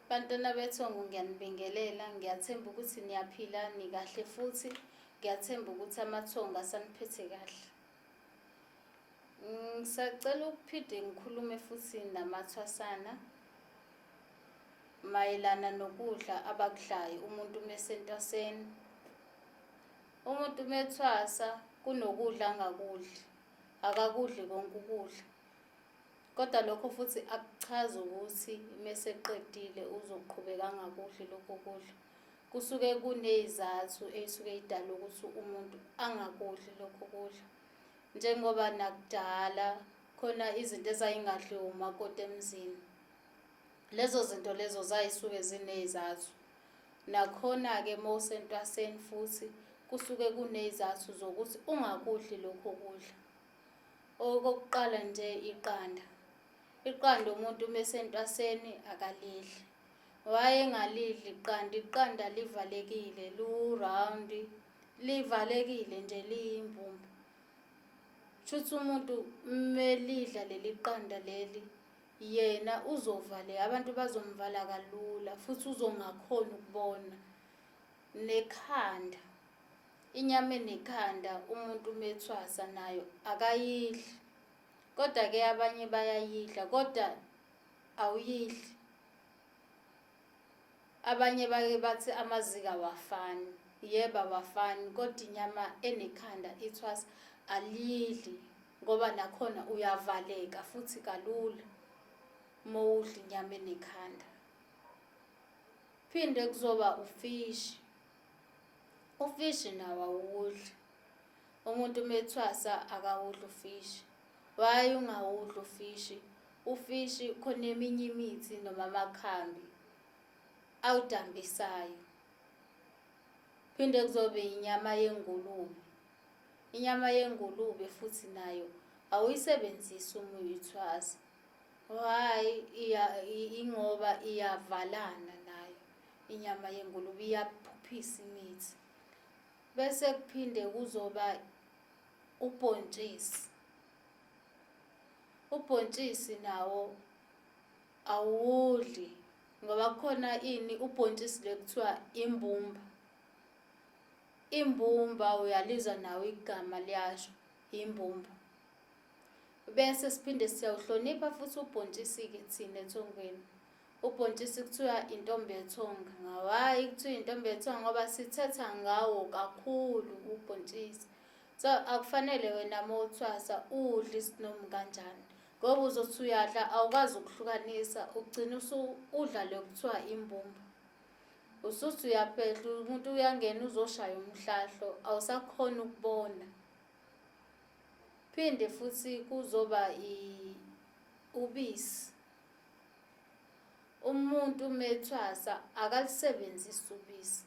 Bantwana bethongo ngiyanibingelela ngiyathemba ukuthi niyaphila nikahle futhi ngiyathemba ukuthi amathongo asaniphethe kahle. Ngisacela ukuphinde ngikhulume futhi namathwasana mayelana nokudla abakudlayo umuntu mesentwaseni. Umuntu methwasa kunokudla angakudli akakudli konke ukudla. Kodwa lokho futhi akuchazi ukuthi meseqedile uzoqhubeka angakudli lokho kudla. Kusuke kunezathu eyisuke idala ukuthi umuntu angakudli lokho kudla. Njengoba nakudala khona izinto ezayingadliwa umakoti emzini. Lezo zinto lezo zayisuke zinezathu. Nakhona-ke mowusentwaseni futhi kusuke kunezathu zokuthi ungakudli lokho kudla. Okokuqala nje iqanda. Iqanda umuntu uma esentwaseni akalidli. Wayengalidli iqanda, iqanda livalekile, lu-round, livalekile nje liyimbumba. Shuthi umuntu melidla leli qanda leli yena uzovaleka, abantu bazomvala kalula futhi uzongakhoni ukubona nekhanda. Inyama enekhanda umuntu uma ethwasa nayo akayidli. Kodwa-ke abanye bayayidla kodwa awuyidli. Abanye bake bathi amazinga awafani. Yebo awafani kodwa inyama enekhanda ithwasa aliyidli ngoba nakhona uyavaleka futhi kalula uma udla inyama enekhanda. Phinde kuzoba ufishi. ufishi nawo awuwudli umuntu uma ethwasa akawudli ufishi why ungawudli ufishi ufishi khona eminye imithi noma amakhambi awudambisayo phinde kuzobe inyama yengulube inyama yengulube futhi nayo awuyisebenzisi uma uyithwasa why ingoba iyavalana inyama yengulube iyaphuphisa imithi bese kuphinde kuzoba ubhontshisi ubhontshisi nawo awudli ngoba kukhona ini ubhontshisi le kuthiwa imbumba imbumba uyalizwa nawo igama liyasho imbumba bese siphinde siyawuhlonipha futhi ubhontshisi-ke thina ethongweni Ubhontshisi kuthiwa intombi ethonga. Ngawayi kuthiwa intombi ethonga ngoba sithetha ngawo kakhulu ubhontshisi. So akufanele wena uma uthwasa udle isinomu kanjani. Ngoba uzothi uyadla awukwazi ukuhlukanisa ugcina usu udla le kuthiwa imbumba. Usuthi uyabhedla umuntu uyangena uzoshaya umhlahlo awusakhona ukubona. Phinde futhi kuzoba i ubisi. umuntu methwasa akalisebenzisi ubisi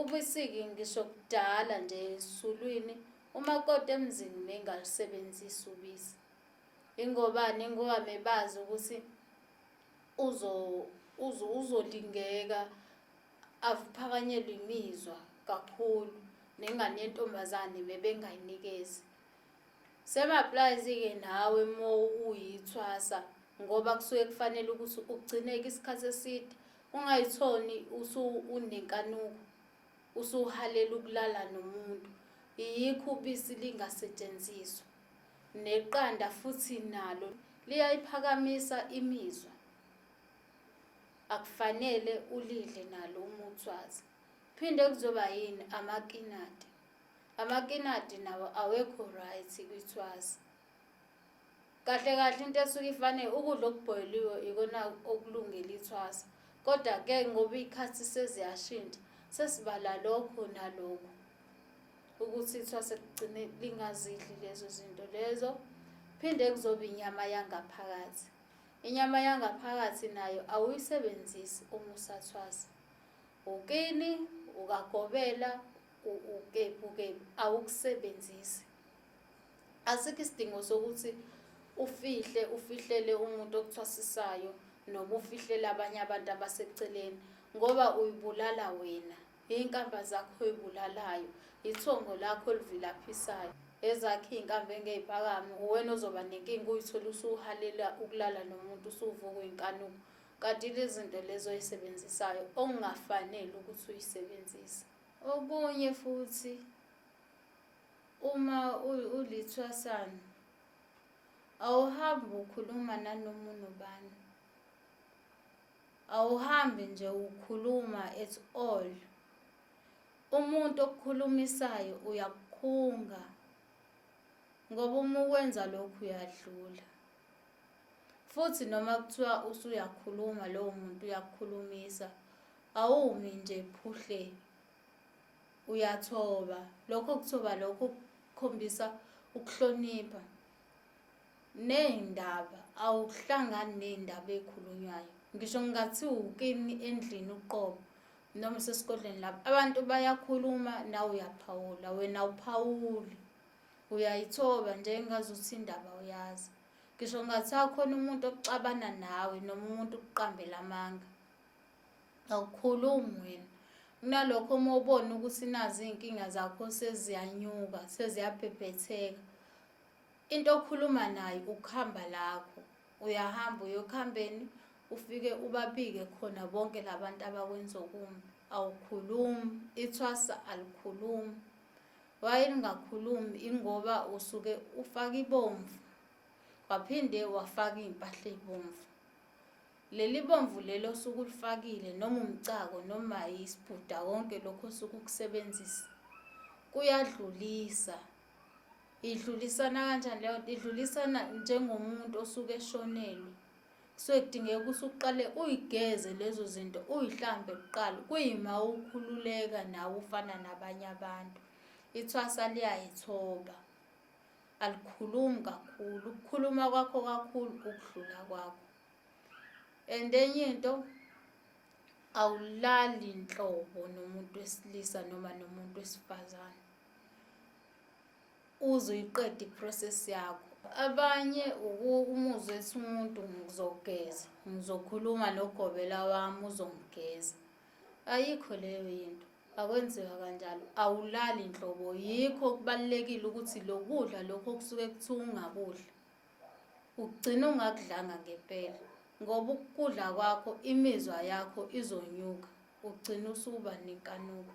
ubisiki ngisho kudala nje esulwini umakoti emzini mengalusebenzisi ubisi ingobani ngoba mebazi ukuthi uzo uzo uzolingeka avuphakanyelwe imizwa kakhulu nengane yentombazane bebengayinikezi Semaplazi-ke nawe mo uyithwasa ngoba kusuke kufanele ukuthi ugcineke isikhathi eside ungayithoni usu unenkanuko usuhalela ukulala nomuntu iyikho ubisi lingasetshenziswa neqanda futhi nalo liyayiphakamisa imizwa akufanele ulidle nalo umuthwazi phinde kuzoba yini amakinati amakinati nawo awekho right kwithwazi kahle kahle into esuke ifanele ukudla okubhoyiliwe ikona okulungele ithwasa kodwa ke ngoba iy'khathi seziyashintsha sesibala lokho nalokho ukuthi ithwase ligcine lingazidli lezo zinto lezo phinde kuzoba inyama yangaphakathi inyama yangaphakathi nayo awuyisebenzisi uma usathwasa ukini ukagobela ukebukebu awukusebenzisi asikho isidingo sokuthi ufihle ufihlele umuntu okuthwasisayo noma ufihlele abanye abantu abaseceleni ngoba uyibulala wena iy'nkamba zakho oyibulalayo ithongo lakho elivilaphisayo ezakhe iy'nkambi engey'phakami uwena ozoba nenkinga uyithole usuhalela ukulala nomuntu usuvuka uyinkanuko kanti lezinto lezo oyisebenzisayo okungafanele ukuthi uyisebenzise Okunye futhi uma ulithwasana awuhambi ukhuluma nanoma unobani awuhambi nje ukhuluma at all umuntu okukhulumisayo uyakukhunga ngoba uma ukwenza lokhu uyadlula futhi noma kuthiwa usuyakhuluma lowo muntu uyakukhulumisa awumi nje phuhle uyathoba lokho kuthoba lokho kukhombisa ukuhlonipha ney'ndaba awuhlangani ney'ndaba ey'khulunywayo ngisho ngingathi wukini endlini uqobo noma sesigodlweni lapho abantu bayakhuluma nawe uyaphawula wena awuphawuli uyayithoba nje engazuthi indaba uyazi ngisho kungathiwa khona umuntu okuxabana nawe noma umuntu ukuqambela amanga awukhulumi wena kunalokho uma ubona ukuthi nazi iy'nkinga zakho seziyanyuka seziyabhebhetheka into okhuluma nayo ukuhamba lakho uyahamba uyokuhambeni ufike ubabike khona bonke labantu abakwenza okumbi awukhulumi ithwasa alikhulumi Wayengakhulumi ingoba usuke ufaka ibomvu waphinde wafaka iy'mpahla ey'bomvu. Leli bomvu leli osuke ulifakile noma umcako noma isibhuda konke lokho osuke ukusebenzisa kuyadlulisa. Idlulisana kanjani leyo nto? Idlulisana njengomuntu osuke eshonelwe. Kusuke kudingeka ukuthi uqale uyigeze lezo zinto uyihlambe kuqala kuyima ukhululeka nawe ufana nabanye abantu ithwasa liyayithoba alikhulumi kakhulu ukukhuluma kwakho kakhulu ukudlula kwakho and enye into awulali nhlobo nomuntu wesilisa noma nomuntu wesifazane uze uyiqede iprocess yakho abanye umuzwe ethi umuntu ngizogeza ngizokhuluma nogobela wami uzongigeza ayikho leyo yinto akwenziwa kanjalo awulali nhlobo yikho okubalulekile ukuthi lokudla lokho okusuke kuthiwa ungakudla ugcina ungakudlanga ngempela ngoba ukudla kwakho imizwa yakho izonyuka ugcina usuba nenkanuko